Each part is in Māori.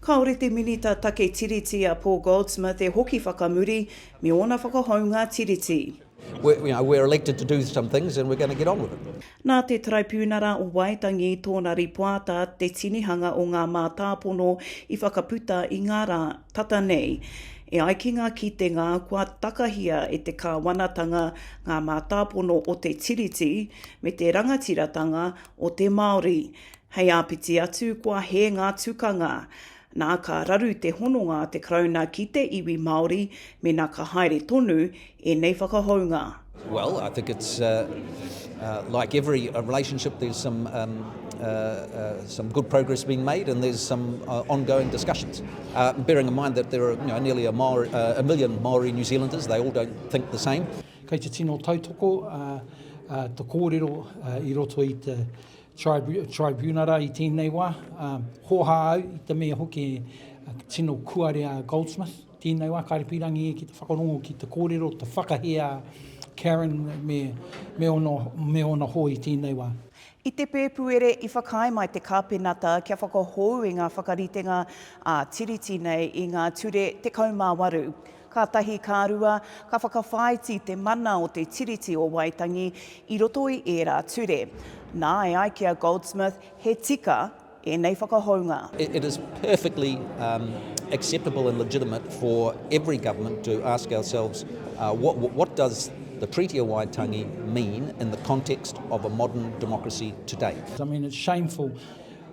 Kāore te Minita Take Tiriti a Paul Goldsmith e hoki whakamuri me ōna whakahounga Tiriti. Nā te Taraipiunara o Waitangi tōna rīpoata te tinihanga o ngā mātāpono i whakaputa i ngā rā tata nei. E ai ki ngā kitenga kua takahia e te Kāwanatanga ngā mātāpono o te Tiriti me te rangatiratanga o te Māori, Hei āpiti atu, kua hē ngā tukanga. Nā, ka raru te hononga a te Karauna ki te iwi Māori mēnā ka haere tonu ēnei whakahounga. Well, I think it's like every relationship, there's some some good progress being made and there's some ongoing discussions. Bearing in mind that there are nearly a million Māori New Zealanders, they all don't think the same. Kei te tino tautoko te kōrero i roto i te. Tribunara i tēnei wā, ā, hōhā au i te mea hoki e tino kuare a Goldsmith tēnei wā, kāre pīrangi e ki te whakarongo ki te kōrero, te whakahē a Karen me, me ōna, me ōna hoi tēnei wā. I te Pēpuere i whakaae mai te Kāpenata kia whakahou i ngā whakaritenga ā-Tiriti nei i ngā ture 18. Kātahi ka rua, ka whakawhāiti te mana o te Tiriti o Waitangi i roto i ērā ture. Nā, e ai ki a Goldsmith, he tika ēnei whakahounga. It is perfectly acceptable and legitimate for every government to ask ourselves what does the Treaty of Waitangi mean in the context of a modern democracy today. I mean, it's shameful.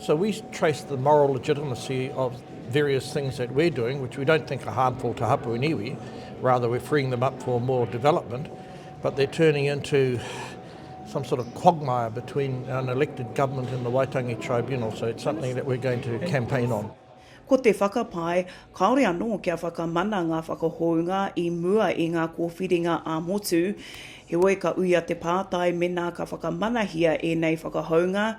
So we trace the moral legitimacy of various things that we're doing, which we don't think are harmful to hapu and iwi, rather we're freeing them up for more development, but they're turning into some sort of quagmire between an elected government and the Waitangi Tribunal, so it's something that we're going to campaign on. Ko te whakapae, kāore anō kia whakamana ngā whakahounga i mua i ngā kōwhiringa ā-motu. Heoi ka uia te pātai mēnā ka whakamanahia ēnei whakahounga,